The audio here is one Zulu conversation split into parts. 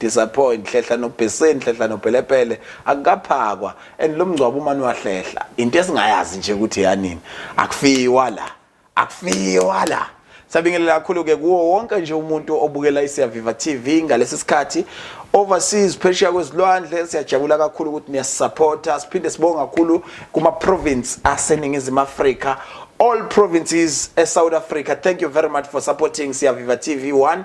Disappoint hlehla nobheseni hlehla nobhelepele akukaphakwa and lo mngcwabo uma niwahlehla into esingayazi nje ukuthi yanini akufiwa la akufiwa la Sabingelela kakhulu ke kuwo wonke nje umuntu obukela iSiyaviva TV ngalesi sikhathi overseas phesheya kwezilwandle siyajabula kakhulu ukuthi niyasupporta siphinde sibonge kakhulu kuma province aseningizimu Afrika all provinces e South Africa thank you very much for supporting Siyaviva TV 1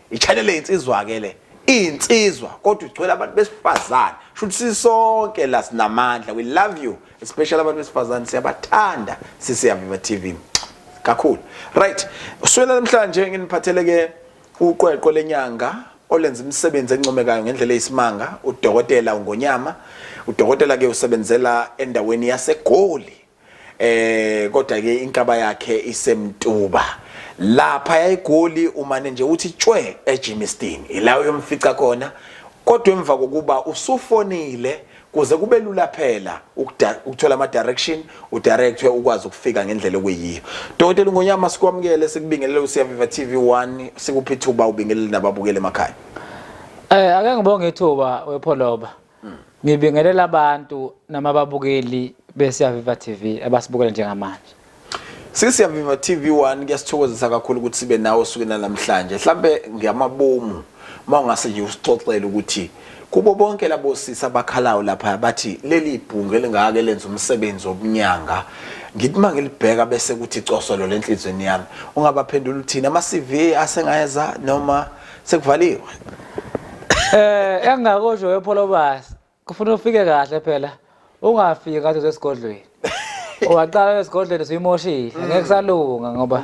I-channel insizwa ke le insizwa kodwa igcwele abantu besifazane shuthi sisonke la sinamandla we love you especially abantu besifazane siyabathanda sisiyaviva TV kakhulu right uswela namhlanje nginiphathele ke uqweqwe lenyanga olenza imisebenzi encomekayo ngendlela eyisimanga udokotela ungonyama udokotela ke usebenzela endaweni yasegoli eh kodwa ke inkaba yakhe isemtuba lapha yayigoli umane nje uthi tshwe eGimiston ila uyomfica khona kodwa emva kokuba usufonile kuze kube lula phela ukuthola ama direction u directwe ukwazi ukufika ngendlela okuyiyo Dokotela Ngonyama sikwamukele sikubingelele uSiyaviva TV1 sikuphi thuba ubingelele nababukele emakhaya Eh ake ngibonge ithuba wepholoba Ngibingelela abantu nama babukeli besiya Viva TV abasibukela njengamanje. Sisi Viva TV 1 kuyasithokozisa kakhulu ukuthi sibe nawe suku namhlanje. Mhlambe ngiyamabomu mawungase nje usixoxele ukuthi kubo bonke labo sisi abakhalayo lapha bathi leli ibhungu elingake lenza umsebenzi wobunyanga ngithi uma ngilibheka bese kuthi cosolo lenhlizweni yami ungabaphendula uthini ama-CV asengayeza noma sekuvaliwe eh engakosho wepholobasi kufuna ufike kahle phela ungafiki ngathi usesigodlweni owaqala esigodlweni siyimoshile mm. ngeke kusalunga ngoba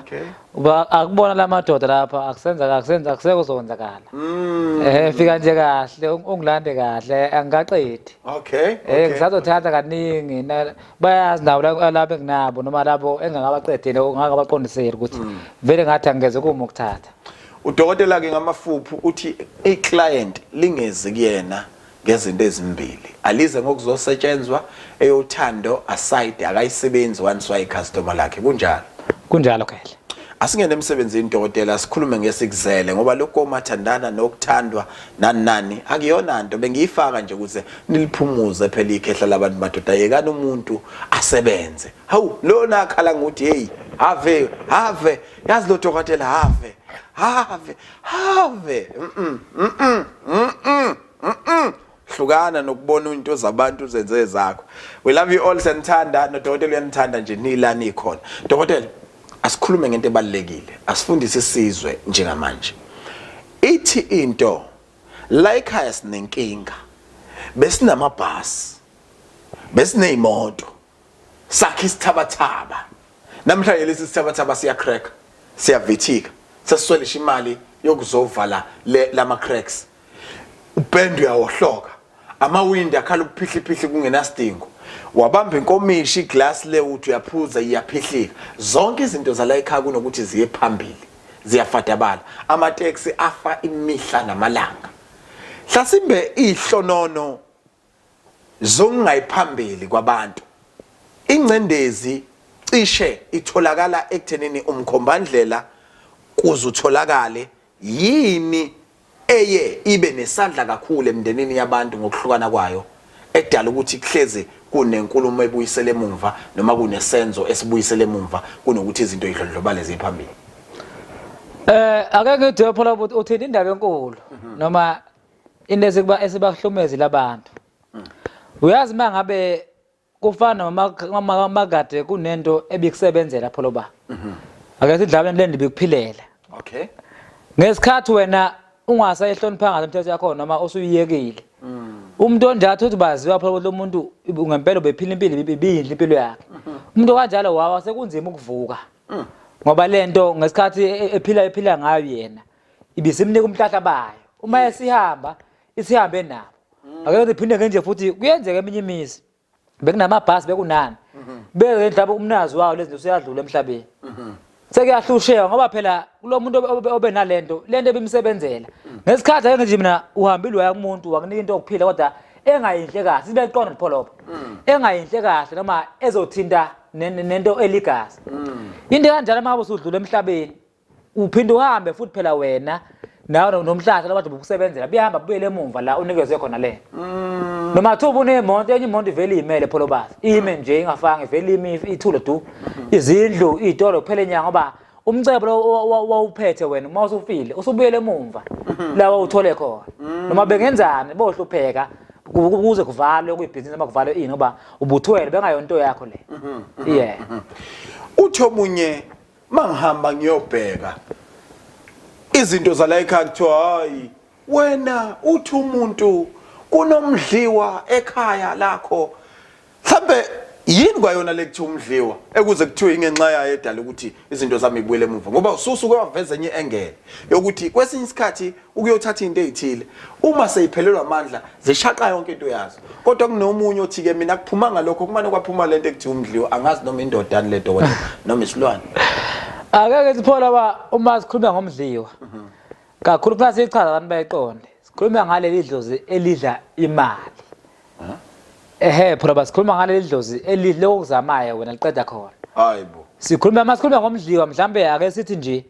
uba akubona la madoda lapha akusenza akusenza akuseko sowenzakala mm. eh fika nje kahle ungilande kahle angikaqedi okay eh ngisazothatha kaningi bayazi nawo labo enginabo noma labo engingabaqedile ungakabaqondiseli ukuthi mm. vele ngathi angeze kuma ukuthatha Udokotela-ke ngamafuphu uthi i-client lingezi kuyena ngezinto ezimbili alize ngokuzosetshenzwa eyothando aside akayisebenzi once wayicustomer lakhe kunjalo kunjalo kahle asingene emsebenzini dokotela sikhulume ngesikuzele ngoba lokho omathandana nokuthandwa nani nani akuyona nto bengiyifaka nje ukuze niliphumuze phela ikhehla labantu madoda yekani umuntu asebenze hawu lona akhala ngokuthi hey have have yazi lo dokotela have have have mm mm mm mm hlukana nokubona into zabantu zenze ezakho we love you all senithanda nodokotela uyanithanda nje nila nikhona dokotela asikhulume ngento ebalekile asifundise isizwe njengamanje ithi into la ekhaya sinenkinga besinamabhasi besineyimoto sakhe isithabathaba namhlanje lesi sithabathaba siya crack siyavithika sesiswelisha imali yokuzovala lama cracks upend uyawohloka amawindi akhala ukuphihliphihle kungenasidingo wabamba inkomishi iglass le uthi uyaphuza iyaphihlika zonke izinto zala ekhaya kunokuthi ziye phambili ziyafadabala amateksi afa imihla namalanga hlasimbe ihlonono zongayiphambili kwabantu. Ingcendezi cishe itholakala ekuthenini umkhombandlela kuze utholakale yini eye ibe nesandla kakhulu emndenini yabantu ngokuhlukana kwayo edala ukuthi kuhlezi kunenkulumo ebuyisele emumva noma kunesenzo esibuyisele emumva kunokuthi izinto idlondlobale ziphambili eh ake ngithi phela ukuthi uthini indaba enkulu mhm. noma into esikuba esibahlumezi labantu mm. uyazi uma ngabe kufana nomakade kunento ebikusebenzela pholo ba mhm. ake sidlalweni le ndibikuphilela okay ngesikhathi wena ungasayihlonipha ngazo imithetho yakho noma usuyiyekile mm. umuntu onjalo uthi baziwa phela ukuthi umuntu ngempela ubephila impilo ibiyinhle impilo yakhe mhm. umuntu kanjalo wawa sekunzima ukuvuka mm. ngoba lento ngesikhathi e-, ephila ephila ngayo yena ibisimnika umhlahla bayo uma esihamba isihambe nabo mm. akekho siphinde ngenje futhi kuyenzeka eminye imizi bekunamabhasi bekunani mm-hmm. beke mhlawumbe umnazi wawo lezinto useyadlula emhlabeni mm-hmm. sekuyahlushewa ngoba phela kulo muntu obe nalento lento ebimsebenzela mm. ngesikhathi ake nje mina uhambile waya kumuntu wakunika into yokuphila kodwa engayinhle kahle sibe liqondo lipholopo mm. engayinhle kahle noma ezothinta nento eligazi into kanjalo uma usudlula emhlabeni uphinde uhambe futhi phela wena nawe no- nomhlahla labantu bokusebenzela buyahamba bubuyele emumva la unikezwe khona lena noma kuthiwa ubunemonto enye imonto ivele iyimele pholo bazi ime nje ingafanga ivele ime if- ithule du izindlu iy'tolo kuphela inyanga ngoba umcebo lo wa- wa- wawuphethe wena uma usufile usubuyele emumva la wawuthole khona noma bengenzani bohlupheka ku- ku- kuze kuvalwe kuyibhizinisi noma kuvalwe ini ngoba ubuthwele bengayonto yakho le yeah Uthi omunye mangihamba ngiyobheka izinto zala ekhaya kuthiwa hayi wena uthi umuntu kunomdliwa ekhaya lakho mhlambe yini kwayona lekuthiwa umdliwa ekuze kuthiwe ingenxa yayo edala ukuthi izinto zami ibuyele emuva ngoba ususuke waveza enye engele yokuthi kwesinye isikhathi ukuyothatha into ezithile uma seyiphelelwa amandla zishaqa yonke into yazo kodwa kunomunye othi ke mina kuphumanga lokho kumane kwaphuma lento ekuthiwa umdliwa angazi noma indoda ani ledo wena noma isilwane akeke siphola ba uma sikhuluma ngomdliwa kakhulu kufanele siyichaza abantu bayiqonde sikhuluma ngaleli dlozi elidla imali ehe phela basikhuluma ngaleli dlozi elidla lokuzamayo wena liqeda khona hayibo sikhuluma masikhuluma ngomdliwa mhlambe ake sithi nje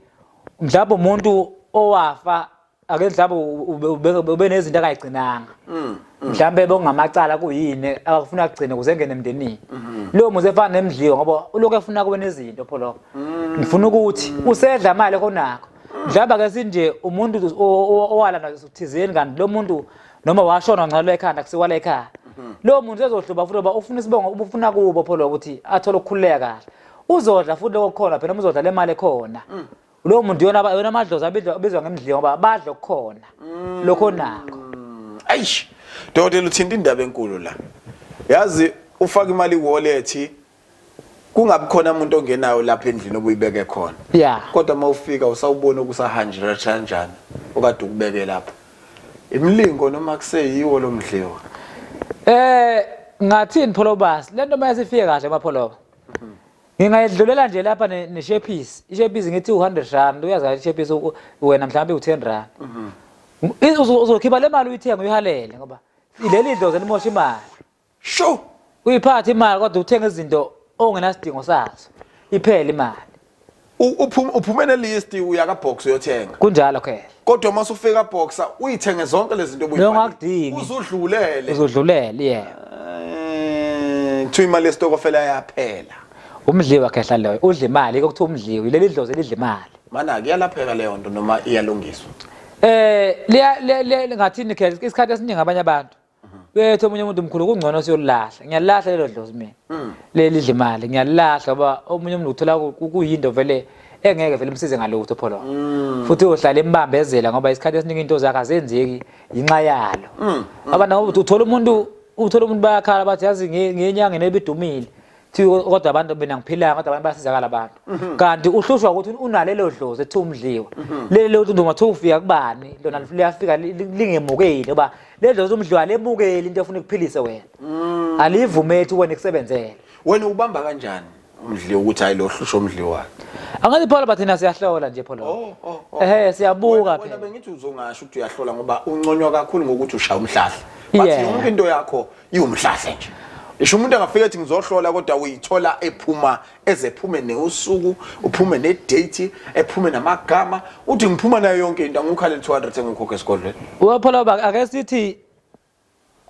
mhlawumbe umuntu owafa ake mhlawumbe ube- ube nezinto akayigcinanga Mm, mhlawumbe bekungamacala kuyini akafuna akugcine ukuze engene emndenini Mm-hmm. lowo muzi efana nemdliwa ngoba ulokhu efuna kube nezinto pho lokho Mm. ngifuna ukuthi usedla imali konakho mhlawumbe ake sinje umuntu o- o- owala nazo thizeni kanti lo muntu noma washona wancelwa ekhanda kusiwala ekhaya Mm-hmm. lowo muntu ezohluba futhi ngoba ufuna isibongo ubufuna kubo pho lokho ukuthi athole ukukhululeka kahle uzodla futhi lokho khona phela uzodla le mali ekhona mm. lowo muntu yona yona amadlozi abizwa ngemdliwa ngoba badla okukhona mm. lokho nako ayish dokotela uthinta indaba enkulu la yazi ufaka imali wallet kungabikhona umuntu ongenayo lapha endlini obuyibeke khona yeah kodwa uma ufika usawubona ukusahanjira kanjani okade ukubeke lapha imilingo noma kuseyiwo lomdliwa eh ngathini pholobasi lento mayasifike kahle mapholoba ngingayedlulela nje lapha neshephisi ishephisi ngithi u-hundred rand uyaza ishephisi wena mhlawumbe u-ten rand mhm. uzokhipha le mali uyithenga uyihalele ngoba leli dlozi limosha imali sho uyiphathe imali kodwa uthenga izinto ongenasidingo sazo iphele imali uphuma uphuma ne list uya ka box uyothenga kunjalo okay kodwa uma usufika boxer uyithenge zonke lezi zinto obuyifuna uzudlulele uzudlulele yeah eh, kuthiwa imali yesitokofela yaphela umdliwa khehla loyo udla imali okuthiwa umdliwa leli dlozi lidla imali mana kuyalapheka leyo nto noma iyalungiswa eh liya ngathini khehla isikhathi esiningi abanye abantu Bethu omunye umuntu mkhulu kungcono siyolahla. Ngiyalahla lelo dlozi mina. Mm. Leli dlimali ngiyalahla ngoba omunye umuntu uthola kuyinto vele engeke vele umsize ngalutho pholo. Mm. Futhi uyohlala embambezela ngoba isikhathi esiningi into zakhe azenzeki yinxa yalo. Mm. Abana uthola umuntu uthola umuntu bayakhala bathi yazi ngenyanga nebidumile. Thiwe kodwa abantu mina ngiphilanga kodwa abantu basizakala abantu. Mhm. Kanti uhlushwa ukuthi unalelo dlozi ethi umdliwa. Mhm. Leli lothi nduma thi ufika kubani lona liyafika lingemukeli oba le dlozi umdliwa lemukeli into efuna ukuphilise wena. Mm. Alivumethi wena ikusebenzele. Wena ubamba kanjani umdliwa ukuthi hayi lo hlushwa umdliwa? Angathi Paul bathina siyahlola nje Paul. Oh, oh, oh. Ehhe siyabuka phela. Wena bengithi uzongasho ukuthi uyahlola ngoba unconywa kakhulu ngokuthi ushaya umhlahla. Bathi yonke into yakho iwumhlahle nje isho umuntu angafika ethi ngizohlola kodwa uyithola ephuma ezephume neusuku uphume nedate ephume namagama uthi ngiphuma nayo yonke into angikhale 200 engikhokhe esigodlweni uyaphela baba ake sithi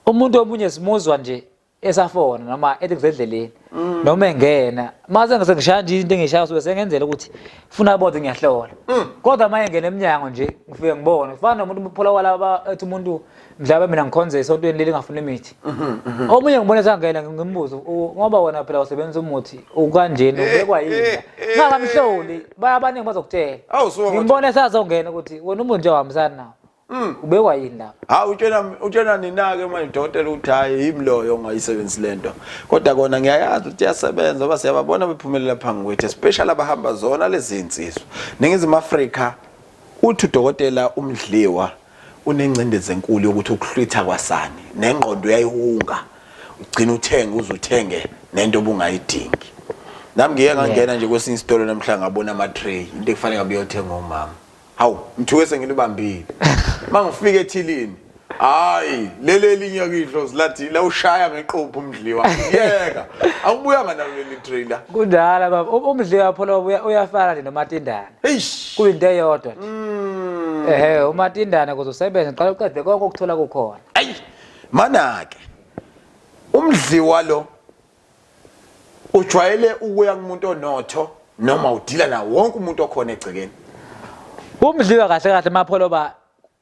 umuntu omunye simuzwa nje esafona noma ethi kusendleleni mm. noma engena mase ngise ngishaya nje into engishaya so sengenzela ukuthi funa bodwa ngiyahlola mm. kodwa maye ngene eminyango nje ngifike ngibone kufana nomuntu umphula kwalaba ethi umuntu mhlawumbe mina ngikhonze esontweni leli ngafuna imithi mhm, mhm. omunye ngibona sangena ngimbuza ngoba wena phela usebenzisa umuthi ukanjeni ubekwa yini eh, eh, ngakamhloli eh. bayabaningi bazokutshela ngimbona esazongena ukuthi wena umuntu nje ohambisani nawo mm. ubekwa yini lapha hawu utshena utshena nina-ke manje dokotela ukuthi hhayi yimi loyo ongayisebenzisi le nto kodwa kona ngiyayazi ukuthi iyasebenza oba siyababona bephumelela phambi kwethu especially abahamba zona lezi nsizwa ningizimu afrika uthi udokotela umdliwa Unengcindezi enkulu yokuthi ukuhlwitha kwasani nengqondo uyayihunga ugcina uthenge uze uthenge nento obungayidingi. Nami ngike ngangena nje kwesinye isitolo namhla ngabona ama tray into ekufanele ngabe uyothenga umama. Hawu ngithuke sengilibambile. Mangifike ethilini hayi leli elinye kidlozi lathi la ushaya ngeqophu umdliwa yeka awubuyanga nalo leli trailer kudala baba umdliwa pholo uyafana nje nomatindana Eish. Kuyinto eyodwa nje. Mm. Ehhe uMatindana kuzosebenza qala uqede konke ukuthola kukhona. Ayi. Mana ke. Umdliwa lo ujwayele ukuya kumuntu onotho noma udila na wonke umuntu okhona egcekeni. Umdliwa kahle kahle mapholo ba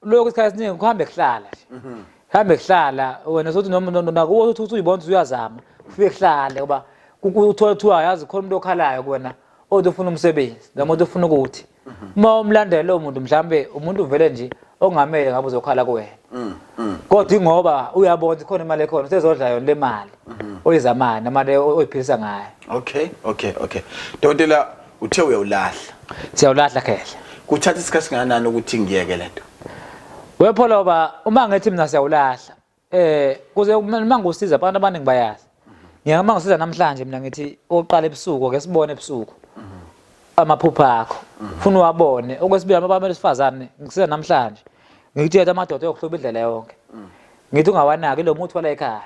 lokho isikhathi esiningi kuhambe kuhlala nje mhm. hambe kuhlala wena sothi noma nakuwo uthi uyibona ukuthi uyazama ufike kuhlale ngoba uthola kuthiwa yazi khona umuntu okhalayo kuwena othi ufuna umsebenzi noma othi ufuna ukuthi mhm. uma umlandela lowo muntu mhlawumbe umuntu uvele nje ongamele ngabe uzokhala kuwena mm, mm. kodwa ingoba uyabona ukuthi khona imali ekhona usezodla yona le mali mhm. oyizamani amali oyiphilisa ngayo okay okay okay dokotela uthe uyawulahla siyawulahla khehla kuthatha isikhathi singanani ukuthi ngiyeke lento wepholoba uma ngithi mina siyawulahla eh kuze uma ngikusiza abantu abaningi bayazi ngiyeke uma ngisiza namhlanje mina ngithi oqala ebusuku ake sibone ebusuku amaphupha akho ufuna uwabone okwesibili abantu besifazane ngisiza namhlanje ngikutshela amadoda yokuhloba indlela yonke ngithi ungawanaki lo muthi wala ekhaya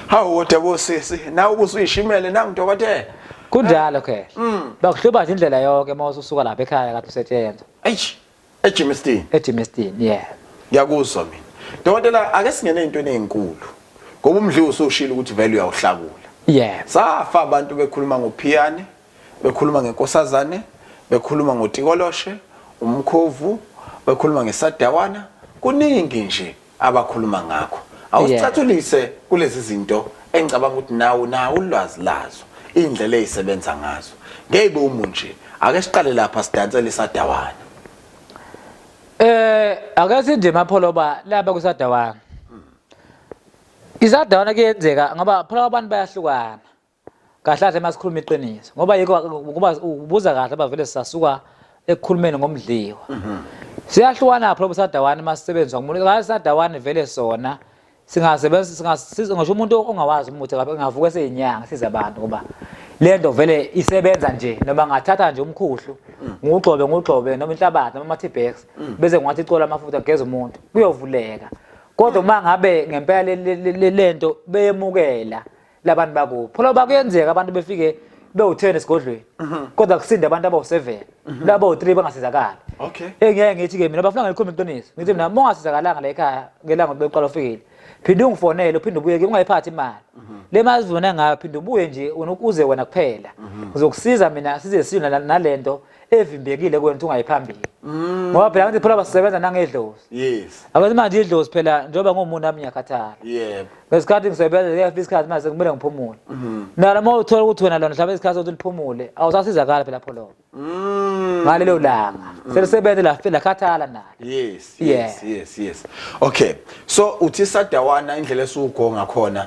hawu kodwa bosisi nawe ubusuyishimele nangu dokotela kunjalo ke mm. bakuhluba nje indlela yonke uma ususuka lapha ekhaya kade usetshenzwa eish ejimestini ejimestini yeah ngiyakuzwa mina dokotela ake singene into ezinkulu ngoba umdliwa usushilo ukuthi value uyawuhlakula yeah safa abantu bekhuluma ngophiyane bekhuluma ngenkosazane bekhuluma ngotikoloshe umkhovu bekhuluma ngesadawana kuningi nje abakhuluma ngakho awusicathulise kulezi zinto engicabanga ukuthi nawe nawe ulwazi lazo indlela ezisebenza ngazo ngeke umu nje ake siqale lapha sidansele isadawana eh ake sinde mapholoba laba kusadawana isadawana kuyenzeka ngoba pholoba abantu bayahlukana kahle kahle masikhuluma iqiniso ngoba yiko ngoba ubuza kahle abavele sisasuka ekukhulumeni ngomdliwa mhm. siyahlukana pho sadawani masisebenzisa ngomuntu kahle sadawani vele sona singasebenza singasiza ngisho umuntu ongawazi umuthi kabe ngavuka seyinyanga siza abantu ngoba lento vele isebenza nje noma ngathatha nje umkhuhlu mm. ngugxobe ngugxobe noma inhlabathi noma amathibhex mm. bese ngiwathi cola amafutha geza umuntu kuyovuleka kodwa uma ngabe ngempela lento beyemukela labantu bakubo phela bakuyenzeka abantu befike bewu-10 esigodlweni mhm. kodwa kusinde abantu abawu-7 mhm. labawu-3 bangasizakali okay engiyeke ngithi-ke mina bafuna ngelikhombe iqiniso ngithi mina uma ungasizakalanga la ekhaya ngelanga ukuthi beqala ufikile phinde ungifonele uphinde ubuye ke ungayiphathi imali mhm. le mali uzibona ngayo phinde ubuye nje uze wena kuphela ngizokusiza mina size silwe nalento evimbekile kwena ukuthi ungayi phambili mm. ngoba phela ngathi phela basebenza nangedlozi yes abathi manje idlozi phela njengoba ngomuntu nami ngiyakhathala yebo ngesikhathi ngisebenza ngiyafika isikhathi manje kumele ngiphumule mm-hmm. nalo uma uthola ukuthi wena lona mhlawumbe isikhathi sokuthi liphumule awusasizakala phela pholo mm. ngalelo langa mm. selisebenze la phela khathala nalo yes yes yes yes okay so uthi sadawana indlela esugonga khona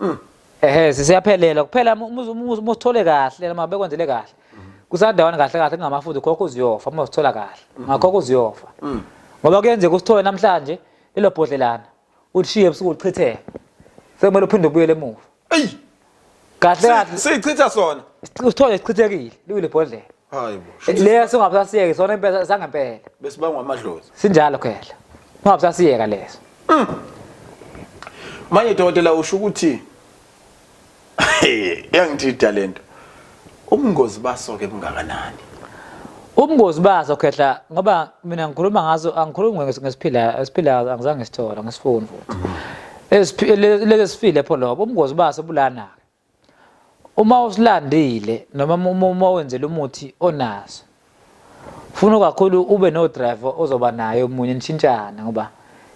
Mm. Ehhe sisiyaphelela kuphela musithole kahle noma bekwenzele kahle. Kusandawana kahle kahle kungamafuthi khokho uziyofa uma usithola kahle. Mm-hmm. Ngakhokho uziyofa. Mm. Ngoba kuyenzeka usithole namhlanje lelo bhodlelana ulishiye ebusuku uchitheke. Sekumele uphinde ubuyele emuva. Eyi. Kahle kahle sichitha sona. Usithole sichithekile liwile bhodlela. hayi bo Eh, Leso ngabusasiyeke sona impela sangempela. besibangwa amadlozi Sinjalo phela. Ungabusasiyeka leso. manje dokotela usho ukuthi yangithi talento ubungozi baso ke bungakanani Ubungozi baso khehla ngoba mina ngikhuluma ngaso angikhulumi nges- ngesiphila esiphila angizange ngisithola ngesifuni futhi. Esiphi- le- Lezi sifile pho lobo ubungozi baso bulana. uma usilandile noma uma wenzela umuthi onaso funa kakhulu ube no driver ozoba naye omunye nishintshana ngoba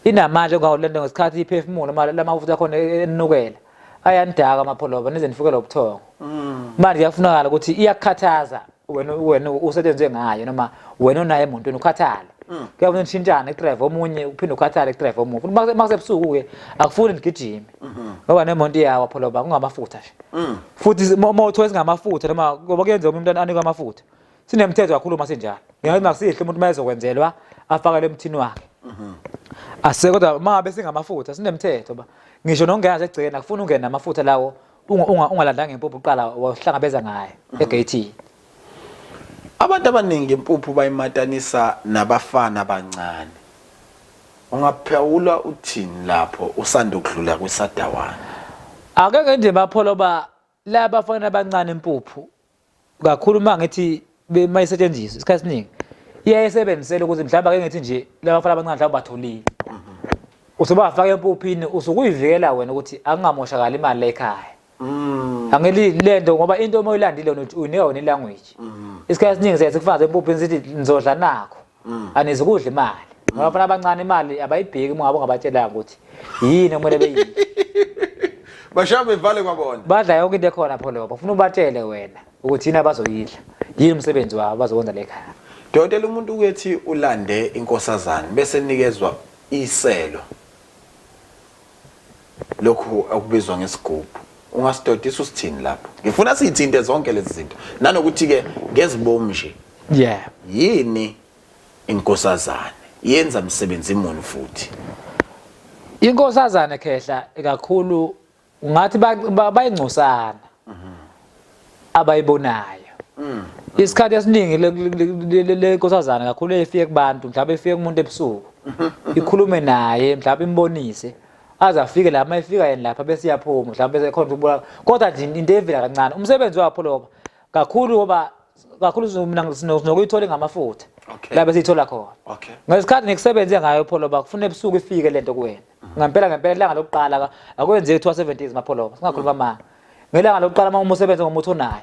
inamandla ongawulanda ngesikhathi iphefumulo uma lamafuta akhona enukela ayanidaka amapholoba nize nifukela ubuthongo mm. manje kuyafunakala ukuthi iyakukhathaza wena wena usetshenzwe ngayo noma wena onaye emotweni ukhathale mm. kuyabona nishintshane kudrive omunye uphinde ukhathale kudrive omunye futhi uma kusebusuku-ke akufuni nigijime mm-hmm. ngoba nemonto iyawa pholoba kungamafutha nje mm. futhi uma uthiwa singamafutha noma ngoba kuyenzeka omunye umntwana anikwe amafutha sinemthetho kakhulu uma sinjalo ngenxa makusihle umuntu uma ezokwenzelwa afakele emthini wakhe mm-hmm. ase kodwa uma ngabe singamafutha sinemthetho ba ngisho nokungena segcikeni akufuni ungene namafutha lawo ungalandanga impuphu uqala wahlangabeza ngayo mhm. egeyithini abantu abaningi impuphu bayimatanisa nabafana abancane ungaphawula uthini lapho usanda ukudlula kwisadawana akeke nje bapholo ba la bafana abancane impuphu kakhulu uma ngithi uma isetshenziswa isikhathi esiningi iyaye esebenzisele ukuthi mhlawumbe ake ngithi nje laba bafana abancane mhlawumbe batholile usubafaka empuphini usukuyivikela wena ukuthi akungamoshakali imali lekhaya Mm. Angeli lento ngoba into uma uyilandile uyinika wena ilanguage. Mm. Isikhathi esiningi siyathi kufanele empuphini sithi nizodla nakho. mm. anizi kudla imali mm. ngabafana abancane imali abayibheki uma ngabe ungabatshelanga ukuthi yini okumele beyini bashaya bevale kwabona badla yonke into ekhona pho leyo bafuna ubatshele wena ukuthi yini abazoyidla yini umsebenzi wabo bazokwenza lekhaya dokotela umuntu ukethi ulande inkosazane bese nikezwa iselo lokhu okubizwa ngesigubhu ungasidodisa usithini lapho ngifuna siyithinte zonke lezi zinto nanokuthi-ke ngezibomu nje yeah yini inkosazane yenza msebenzi muni futhi inkosazane khehla kakhulu ngathi bayingcosana abayibonayo mm. isikhathi esiningi le nkosazana kakhulu efike kubantu mhlawumbe efike kumuntu ebusuku ikhulume naye mhlawumbe imbonise aze afike la uma efika yena lapha bese iyaphuma mhlawumbe bese khona ukubulala kodwa nje into evela kancane umsebenzi wakho loba kakhulu ngoba kakhulu mina sinokuyithola ngamafutha la bese ithola khona ngesikhathi ngikusebenze ngayo pholoba kufuna ebusuku ifike lento kuwena ngampela ngempela ilanga lokuqala akwenzeki kuthiwa 70 mapholoba singakhuluma amanga ngelanga lokuqala uma umusebenze ngomuthi onayo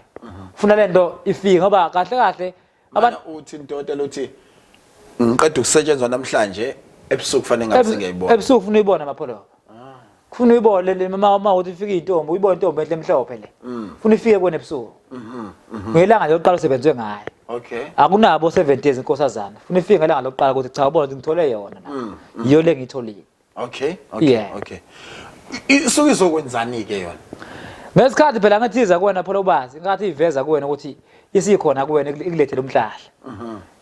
ufuna le nto ifike ngoba kahle kahle abantu uthi intoda lothi ngiqeda ukusetshenzwa namhlanje ebusuku kufanele ngabe sengiyayibona ebusuku ufuna uyibona mapholo ufuna uyibone le mama uma uthi ufike intombi uyibone intombi enhle emhlophe le mm. ufuna ifike kuwena ebusuku mhm, mhm. ngelanga lokuqala usebenzwe ngayo okay akunabo 7 days inkosazana ufuna ifike ngelanga lokuqala ukuthi cha ubona ukuthi ngithole yona mm, mm. yiyo le ngiyitholile okay okay Yeah. okay I- isuke izokwenzani ke yona ngesikhathi phela ngethiza kuwena phela ubazi ngathi iveza kuwena ukuthi isikhona kuwena ikule- ikulethele umhlahla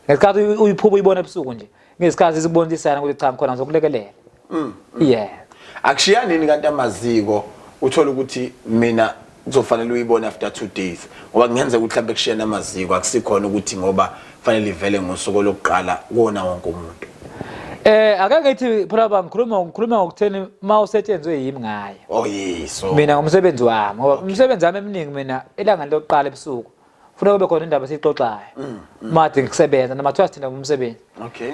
ngesikhathi uyi- uyiphupha uyibona ebusuku nje ngesikhathi sikubonisana ukuthi cha ngikhona ngizokulekelela yeah akushiyanini kanti amaziko uthola ukuthi mina kuzofanele uyibone after two days ngoba kungenzeka ukuthi mhlawumbe kushiyana amaziko akusikhona ukuthi ngoba kufanele ivele ngosuku lokuqala kuwona wonke umuntu Eh ake ngithi phela ba ngikhuluma ngikhuluma ngokutheni uma usetshenzwe yimi ngayo. Oh yes. Mina ngomsebenzi wami ngoba umsebenzi wami eminingi mina elanga lokuqala ebusuku. funeka kube khona indaba esiyixoxayo mm, mm. made ngikusebenza noma kuthiwa sithinda ngumsebenzi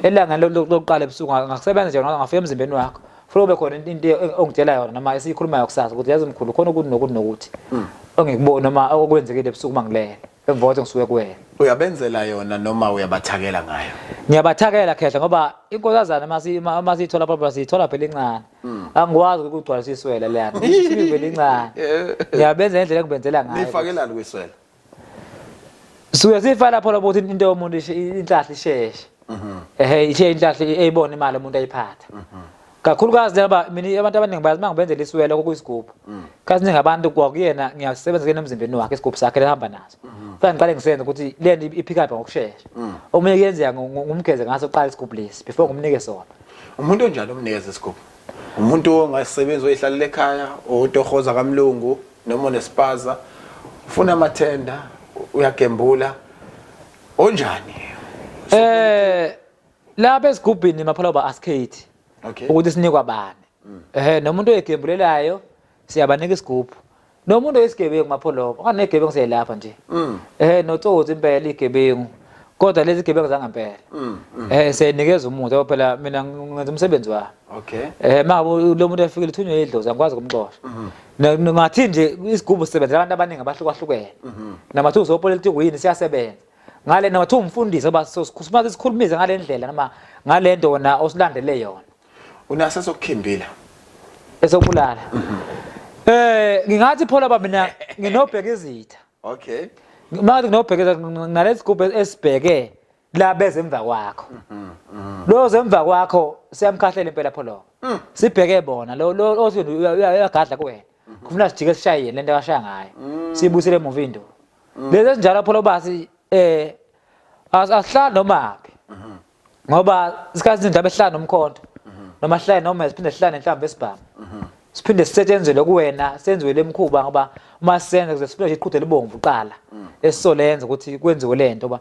elangeni lokuqala ebusuku ngakusebenza nje ngafika emzimbeni wakho funeka kube khona into ongitshela yona noma esiyikhulumayo kusasa ukuthi yazi mkhulu khona ukuthi nokuthi nokuthi mm. ongikuboni noma okwenzekile ebusuku uma ngilele emva kokuthi ngisuke kuwena uyabenzela yona noma uyabathakela ngayo ngiyabathakela khehla ngoba inkozazana uma siyithola problem siyithola phela incane Hmm. angikwazi ukugcwalisa iswela leyana isibivele incane ngiyabenza ngendlela engibenzela ngayo nifakelani kwiswela suke sifa lapho lapho ukuthi into yomuntu inhlahla isheshe mhm. ehe ishe inhlahla eyibona imali umuntu ayiphatha mhm. kakhulukazi laba mina abantu abaningi bayazi uma ngibenzela iswela kokuyisigubu hmm. kazi ningi abantu kwakuyena ngiyasebenza kuyena emzimbeni wakhe isigubhu sakhe lehamba naso hmm. kufanele ngiqale ngisenze ukuthi le nto iphikapha ngokushesha hmm. omunye kuyenzeka ngumgeze ngaso qala isigubhu lesi before ngimnike sona umuntu onjani omnikeza isigubhu umuntu ongasebenzi oyihlalela ekhaya otohoza kamlungu noma onespaza ufuna amathenda uyagembula onjani eh lapha esigubhini maphala uba askate ukuthi sinikwa bani ehe nomuntu oyegembulelayo siyabanika isigubhu nomuntu oyisigebengu mapholobo angenegebengu seyelapha nje mm. eh notsotsi impela igebengu kodwa lezi gebengu zangempela mm, mm. eh senikeza umuntu ngoba phela mina ngenza umsebenzi wami okay eh maka lo muntu efikile uthunywe idlozi angikwazi kumxosha mm-hmm. ngathi nje isigubu sisebenza abantu abaningi abahlukahlukene mm-hmm. namathuzo opolitiki yini siyasebenza ngale namathuzo umfundisi oba sosikhuluma sikhulumize ngalendlela noma ngalento wona osilandele yona Unase sokukhimbila. Esokubulala. Mhm. Eh ngingathi phola baba mina nginobheka izitha. Okay. Manje nginobheka izitha nalesi gubhe esibheke la beze emva kwakho. Mhm. mhm. Lo zemva kwakho siyamkhahlela impela pholo. Mm. Sibheke bona lo lo othi uyagadla kuwena. Mhm. Kufuna sijike sishaye yena lento akashaya ngayo. Mm. Sibusile emuva into. Mm. Lezi ezinjalo pholo basi eh asihlala noma phi. ngoba isikhathi izinto abehlala nomkhonto noma sihlale noma siphinde sihlale inhlamba esibhamu siphinde sisetshenzele kuwena senziwe lemkhuba ngoba uma senza kuze siphinde iqhude libomvu qala esisolenza ukuthi kwenziwe lento ba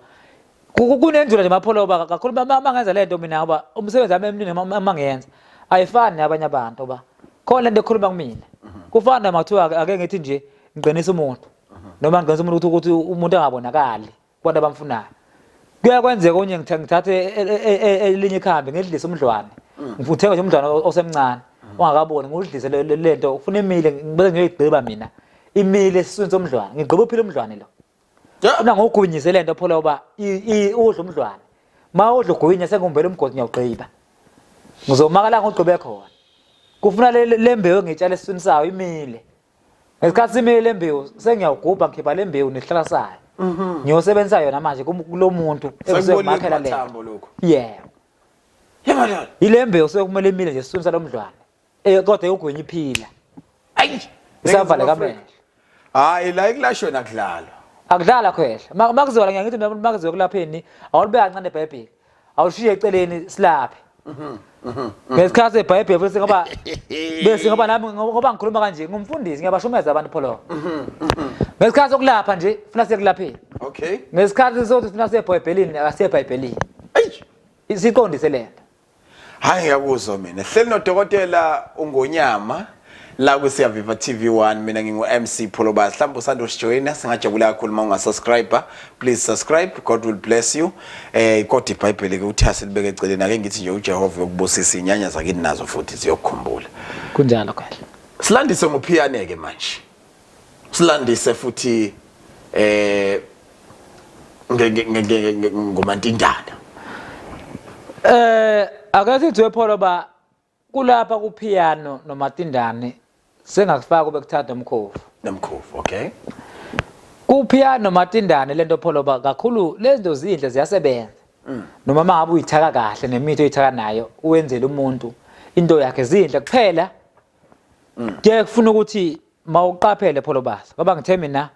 kunenjula nje mapholoba kakhulu uma ngenza lento mina ngoba umsebenzi wami emningi uma ngiyenza ayifani nabanye abantu ba khona lento ekhuluma kumina kufana makuthiwa ake ngithi nje ngiqinisa umuntu noma ngiqinisa umuntu ukuthi umuntu angabonakali kubantu abamfunayo kuyakwenzeka onye ngithathe e- e- e- e- elinye ikhambi ngidlise umdlwane Mm. ngithenga nje umdlwane o- osemncane Mm. ongakaboni ngudlise le- le- le nto ufuna imile bese ngiyoyigqiba mina imile esiswini somdlwane ngigqiba uphila umdlwane lo Yeah. funa ngogwinyise le nto phola uba i- i- udla umdlwane ma udla ugwinya sengumbela umgodi ngiyawugqiba ngizomakala ngogqibe khona kufuna le- le le mbewu engitshale esiswini sayo imile ngesikhathi simile le mbewu sengiyawugubha ngikhipha le mbewu nehlalasayo mhm. ngiyosebenzisa yona manje kulo muntu ekuzomakhela le yebo yile mbewu sekumele imile nje siswini salo mdlwane eh, kodwa eyogwenya iphila ayi isavala kamele hayi la ikulashwe nakudlalwa akudlala khwehla makuziwa la ngiyakuthi makuziwa kulapheni awulibeka kancane ibhayibheli awushiye eceleni silaphe mhm, mhm, mhm. ngesikhathi sebhayibheli futhi ngoba bese ngoba nami ngoba ngikhuluma kanje ngumfundisi ngiyabashumeza abantu pholo ngesikhathi sokulapha nje funa sekulapheni okay ngesikhathi sokuthi funa sebhayibhelini akasebhayibhelini siqondise lento Hayi ngiyakuzwa mina. Hleli nodokotela uNgonyama la kusiyaviva TV1 mina ngingu MC Pholobas. Mhlawumbe usanda usijoyina singajabula kakhulu uma ungasubscribe. Please subscribe. God will bless you. Eh kodwa iBhayibheli ke uthi asilibeke eceleni ake ngithi nje uJehova yokubusisa inyanya zakini nazo futhi ziyokukhumbula. Kunjalo kahle. Silandise ngophiyane ke manje. silandise futhi eh ngomantindana eh akathi kuthiwe pholo ba kulapha ku piano nomatindane sengakufaka bekuthatha umkhovu nomkhovu okay ku piano nomatindane lento pholo ba kakhulu lezinto zinhle ziyasebenza mm. noma mangabe uyithaka kahle nemithi oyithaka nayo uwenzele umuntu into yakhe zinhle kuphela mm. ke kufuna ukuthi mawuqaphele pholobaza baba ngithe mina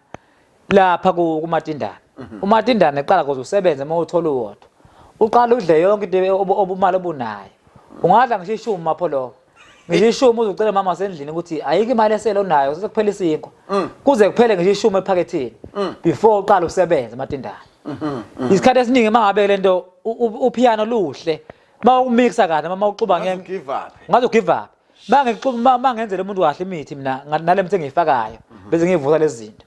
lapha kumatindana mhm. umatindana eqala kuze usebenze uma uthola uwodwa uqala udle yonke into obumali obunayo ungadla ngisho ishumi mapholoba ngisho ishumi uzocela mama wasendlini ukuthi ayikho imali esele onayo sekuphela isinkwa mm. kuze kuphele ngisho ishumi ephakethini mm. before uqala usebenze matindana mhm, mhm. isikhathi esiningi uma ngabe le nto uphiyano luhle uma umixa kahle uma uxuba ngeke ngaze ugive up mangenzela umuntu kahle imithi mina nale mithi engiyifakayo bese ngiyivusa lezi zinto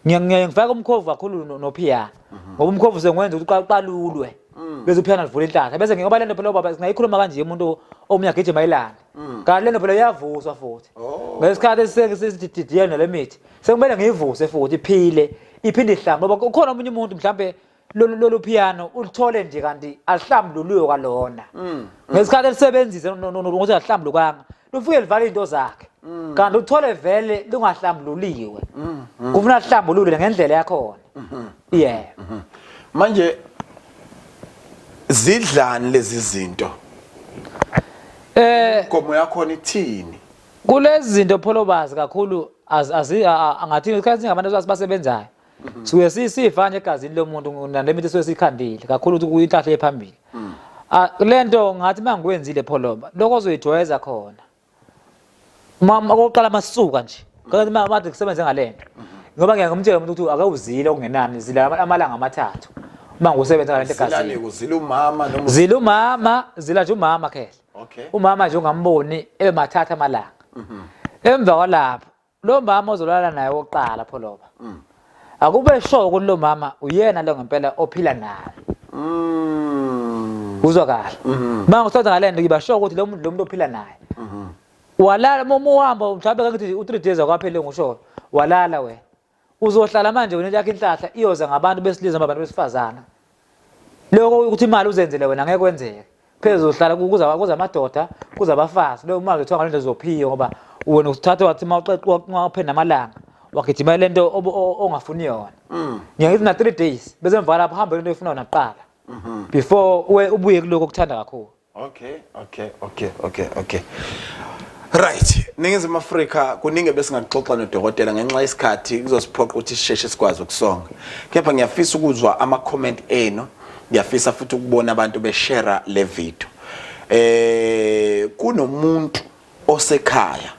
ngiyaye ngifake umkhovu kakhulu nophiyana ngoba umkhovu sengwenza ukuthi uqalulwe bese uphiyana livula inhlanhla bese ngoba lento phela ubaba singayikhuluma kanje umuntu omunye agijima ilanga kanti lento phela iyavuswa futhi ngesikhathi esididiyene nale mithi sekumele ngiyivuse futhi iphile iphinde ihlambe ngoba ukhona omunye umuntu mhlawumbe lolu lolu piano ulithole nje kanti alihlambululiwe kwalona mm, mm. ngesikhathi elisebenzise ukuthi alihlambulukanga lufike livala into zakhe mm. kanti uthole vele lungahlambululiwe kufuna lihlambulule ngendlela yakhona mm-hmm. yeah mm-hmm. manje zidlani lezi zinto eh gomo yakho nithini kulezi zinto pholobazi kakhulu angathini isikhathi singabantu abasebenzayo suke sisifa nje egazini lomuntu nalemithi suke sikhandile kakhulu ukuthi kuyinhlahla ephambili mm. ah, lento ngathi mangikwenzile pholoba lokho ozoyijwayeza khona mama okokuqala masuka nje kanti mama bathi kusebenze ngalento mm-hmm. ngoba ngeke ngimtshele umuntu ukuthi akawuzile okungenani zila amalanga amathathu uma ngusebenza ngalento egazini zila umama noma zila umama zila nje umama khehla umama nje ungamboni ebe mathatha amalanga mm-hmm. emva kwalapho lo mama ozolala naye oqala pholoba mm. akube sho ukuthi lo mama uyena lo ngempela ophila naye mm. uzwa kahle mm-hmm. manje usathatha ngalento ngiba sho ukuthi lo muntu lo muntu ophila naye mm-hmm. walala uma uhamba mhlawumbe kangithi u3 days akwaphele ngusho walala wena uzohlala manje wena yakhe inhlahla iyoza ngabantu besilisa ngabantu besifazana lokho ukuthi imali uzenzele wena ngeke kwenzeke phezulu uhlala kuza kuza amadoda kuza abafazi leyo mali kuthiwa ngalento zophiyo ngoba wena usithathe wathi uma uxexa uma uphenda amalanga wagijima lento ongafuni yona mm. ngiyakithi na 3 days bese mvala lapho hambe lento efuna yona kuqala mhm. before ubuye kuloko okuthanda kakhulu Okay, okay, okay, okay, okay. Right, Ningizimu Afrika kuningi besingaxoxa nodokotela ngenxa yesikhathi kuzosiphoqa ukuthi sisheshe sikwazi ukusonga. Kepha ngiyafisa ukuzwa ama comment enu, ngiyafisa futhi ukubona abantu beshare le video. Eh kunomuntu osekhaya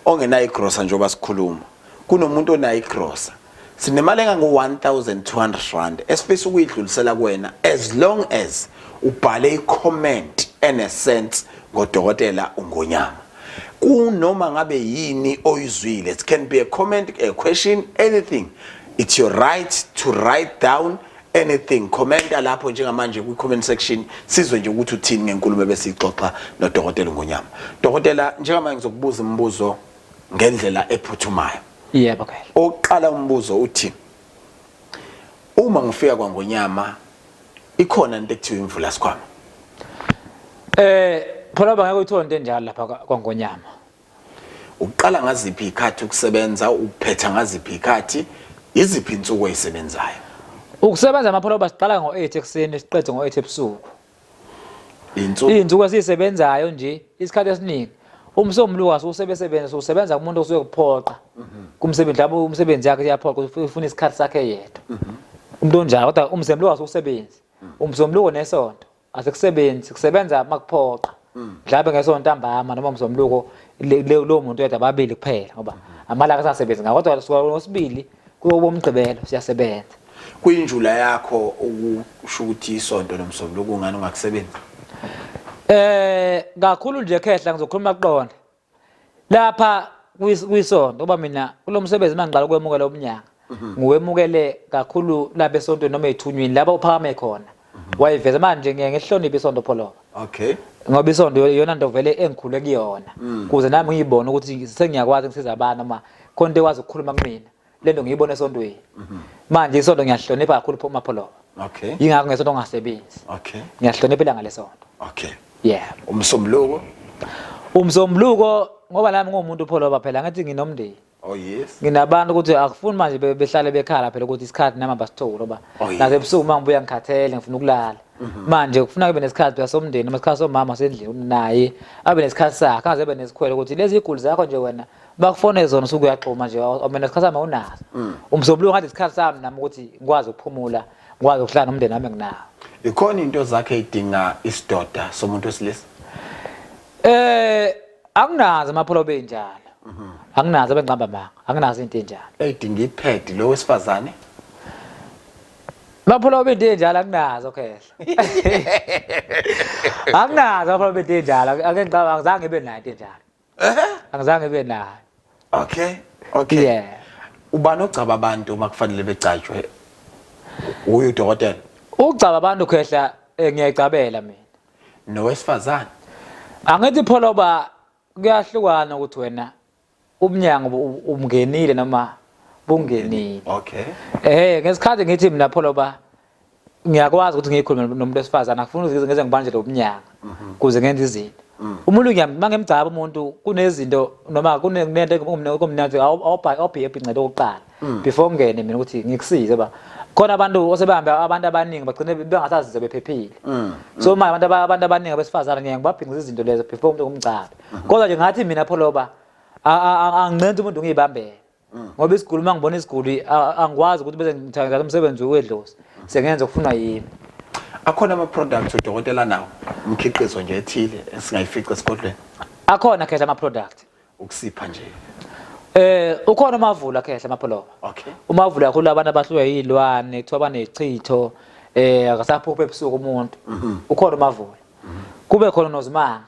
ongenayo igrosa njengoba sikhuluma kunomuntu onayo igrosa sinemali engango-1200 rand esifisa ukuyidlulisela kuwena as long as ubhale i-comment enesense ngodokotela ungonyama kunoma ngabe yini oyizwile it can be a comment a question anything it's your right to write down anything commenta lapho njengamanje kwi comment section sizwe nje ukuthi uthini ngenkulumo ebesixoxa nodokotela ngonyama dokotela njengamanje ngizokubuza imibuzo ngendlela ephuthumayo yebo yeah, okay oqala umbuzo uthi uma ngifika kwangonyama ikhona into ekuthiwa imvula sikhwama eh phela bangeke uyithole into enjalo lapha kwangonyama Uqala ngaziphi izikhathi ukusebenza, uphetha ngaziphi izikhathi, iziphi insuku oyisebenzayo? Ukusebenza amapholoba siqala ngo-8 ekuseni siqede ngo-8 ebusuku. Insuku izinsuku esisebenzayo nje isikhathi esiningi umsombuluka usebesebenza sosebenza kumuntu osuke kuphoqa mhm. kumsebenzi lapho umsebenzi yakhe iyaphoqa ufuna isikhathi sakhe yedwa mhm. umuntu onjalo kodwa umsombuluka usebenzi mhm. umsombuluko nesonto asikusebenzi kusebenza makuphoqa mm. mhlawumbe ngesonto ntambama noma mzomluko lowo muntu yedwa ababili kuphela ngoba amalanga asasebenzi ngakho kodwa suka ngosibili kuyoba umgqibelo siyasebenza kuyinjula yakho ukusho ukuthi isonto nomsombuluko ungani ungakusebenzi eh kakhulu nje khehla ngizokhuluma kuqona lapha kwisonto uba mina kulo msebenzi uma ngiqala ukwemukela umnyaka mhm. ngiwemukele kakhulu lapha esontweni noma ethunyweni lapha uphakame khona mhm. wayiveza manje ngiye ngihloniphe isonto pholoba okay ngoba isonto iyona nto vele engikhule kuyona mm. kuze nami ngiyibone ukuthi sengiyakwazi ngisiza abantu noma khona into ekwazi ukukhuluma kumina lento ngiyibona esontweni mhm. manje isonto ngiyahlonipha kakhulu phuma pholo okay ingakho ngesonto ngasebenzi okay ngiyahlonipha ilanga lesonto okay yeah umsombuluko umsombuluko ngoba nami ngomuntu pholoba phela ngathi nginomndeni Oh yes. Nginabantu ukuthi akufuni manje behlale bekhala phela ukuthi isikhathi nami abasitholi oba oh, naze ebusuku mangibuya ngikhathele ngifuna ukulala. Mhm. Manje kufuna kube nesikhathi phela somndeni, isikhathi somama sendlini naye abe nesikhathi sakhe, angaze abe nesikhwele ukuthi lezi iguli zakho nje wena bakufone zona usuke uyaxhuma nje mina isikhathi sami awunaso mm. umzobulungu ngathi isikhathi sami nami ukuthi ngikwazi ukuphumula ngikwazi ukuhlala nomndeni wami nginawo ikhona into zakhe idinga isidoda somuntu wesilisa eh anginazi amapholo benjalo mhm. anginazi abengqamba manga anginazi into enjalo edinga ipad lo wesifazane Baphula obinti enjalo akunazo khehla. Akunazo baphula obinti enjalo. Ake ngicabanga zange ibe nayo into enjalo. angizange ibe nayo okay okay yeah ubani ogcaba abantu uma kufanele begcatshwe uyu dokotela ugcaba abantu khehla eh, ngiyayigcabela mina nowesifazane angithi pholoba kuyahlukana ukuthi wena ubunyango umngenile noma bungenile okay eh ngesikhathi ngithi mina pholoba ngiyakwazi ukuthi ngiyikhulume nomuntu wesifazane akufuni ukuthi ngize ngibanjele ubunyanga mhm. kuze ngenze izinto mm. umuntu ngiyamma ngemgcaba umuntu kunezinto noma kunento kumnandi awubhayi happy ncede okokuqala mm. before ngene mina ukuthi ngikusize ba khona abantu osebehamba abantu abaningi bagcine bengasazize bephephile mm. so manje abantu abantu abaningi abesifazane ngeke ngibabhingise izinto lezo before umuntu kumgcabe mhm. kodwa nje ngathi mina pholoba angincenze umuntu ngiyibambele mm. ngoba isiguli uma ngibona isiguli angikwazi ukuthi bese ngithatha umsebenzi wedlozi sengenza okufunwa yimi akhona ama-products udokotela nawo umkhiqizo nje ethile esingayifica esigodlweni akhona khehla ama-product ukusipha nje Eh ukhona umavula khehla amapholoba. Okay. Umavula kakhulu abantu abahluke yilwane kuthiwa banechitho eh akasaphuphe ebusuku umuntu. Mhm. Ukhona umavula. Mhm. Kube khona nozimanga.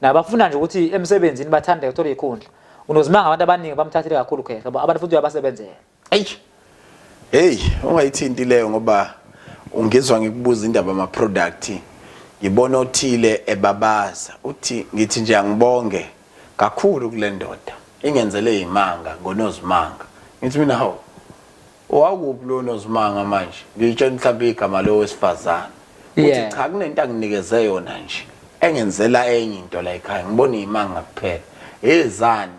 nabafuna nje ukuthi emsebenzini bathande uthola ikhundla unozimanga abantu abaningi bamthathile kakhulu khehla ngoba abantu futhi uyabasebenzela eish hey ungayithinti leyo ngoba ungizwa ngikubuza indaba ama product ngibona othile ebabaza uthi ngithi nje angibonge kakhulu kule ndoda ingenzele imanga ngonozimanga ngithi mina hawu Wakuphi lo nozimanga manje? Ngiyitshela mhlawumbe igama lo wesifazane. Uthi Yeah. cha kunento anginikeze yona nje. Engenzela enye into la ekhaya. Ngibona imanga kuphela. Ezani?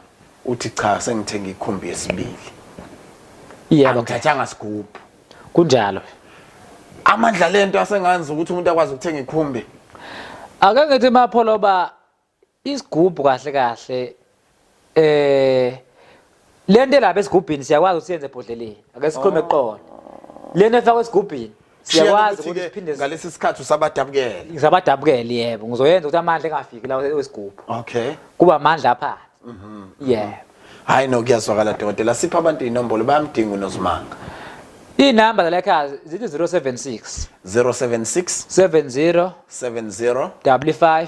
Uthi cha sengithenge ikhumbi yesibili. Yebo, okay. Angithathanga sigubhu. kunjalo. Amandla lento asenganza ukuthi umuntu akwazi ukuthenga ikhumbi. Ake ngithi mapholoba Isigubhu kahle kahle eh lento elapha esigubhini siyakwazi ukusenze ebhodleleni. Ake sikhulume oh. qona. Lento efakwa esigubhini siyakwazi ukuthi siphinde ngalesi sikhathi usabadabukele. Ngizabadabukele yebo. Ngizoyenza ukuthi amandla engafiki la wesigubhu. Okay. Kuba amandla apha. Mhm. Yeah. Hayi no kuyazwakala dokotela sipha abantu inombolo bayamdinga uNozimanga. Inamba zala ekhaya zithi 076 076 70 70 55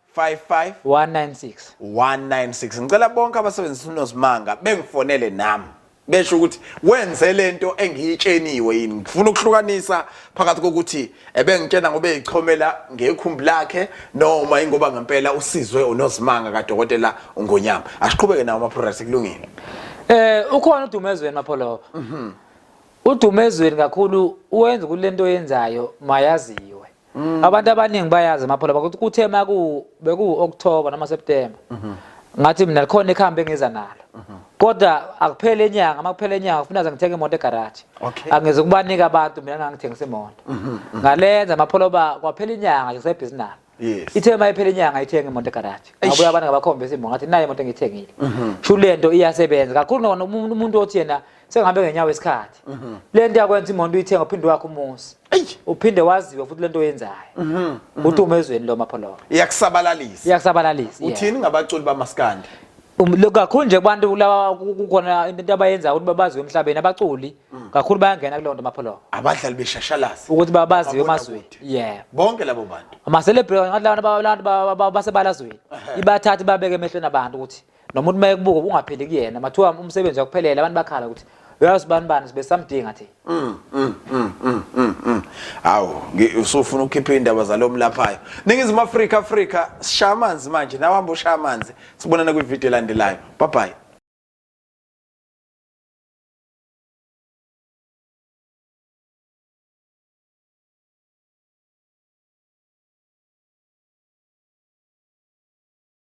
55 196 196 ngicela bonke abasebenzisa uNozimanga bengifonele nami besho ukuthi wenze lento engiyitsheniwe yini ngifuna ukuhlukanisa phakathi kokuthi ebengitshena ngoba ezichomela ngekhumbi lakhe noma ingoba ngempela usizwe uNozimanga kadokotela uNgonyama asiqhubeke nawo ama products kulungile eh ukhona udumezweni mapholoba mhm udumezweni kakhulu uwenza kulento yenzayo mayaziwe Mm. Abantu abaningi bayazi amaphola ukuthi kuthe maku beku October noma September. Mhm. Ngathi mina likhona ikhambe engiza nalo. Mhm. Kodwa akuphele inyanga, makuphele inyanga ufuna ngithenge imoto egarage. Angeze kubanika abantu mina ngangithengisa imoto. Mhm, Ngalenza amaphola ba kwaphela inyanga nje sebhizinala. Yes. Ithe mayiphela inyanga ithenga imoto egarage. Ngabuya abantu ngabakhombisa imoto ngathi nayi imoto engithengile. Sho lento iyasebenza. Kakhulu noma umuntu othi yena sengihambe ngenyawo isikhathi mhm. le nto yakwenza imoto uyithenga uphinde wakho umuzi uphinde waziwe futhi le nto oyenzayo mhm, mhm. uthi uma ezweni lo mapholoka iyakusabalalisa iyakusabalalisa uthini ngabaculi bamaskandi um, kakhulu nje kubantu laba kukhona into abayenzayo ukuthi babaziwe emhlabeni abaculi mm. kakhulu bayangena kuleyo nto mapholoka abadlali beshashalasi ukuthi babaziwe emazweni yeah bonke labo bantu ama-celebrity ngathi labantu basebalazweni ibathathe babeke emehlweni abantu ukuthi noma uthi mayekubuka ungapheli kuyena mathiwa umsebenzi wakuphelele abantu bakhala ukuthi uyazi bani bani sibe samdinga thi mm mm mm mm mm, mm. awu usufuna ukukhipha indaba zalo mlaphayo ningizimu afrika afrika sishaya amanzi manje nawe hamba ushaya amanzi sibonana kwividiyo elandelayo bye bye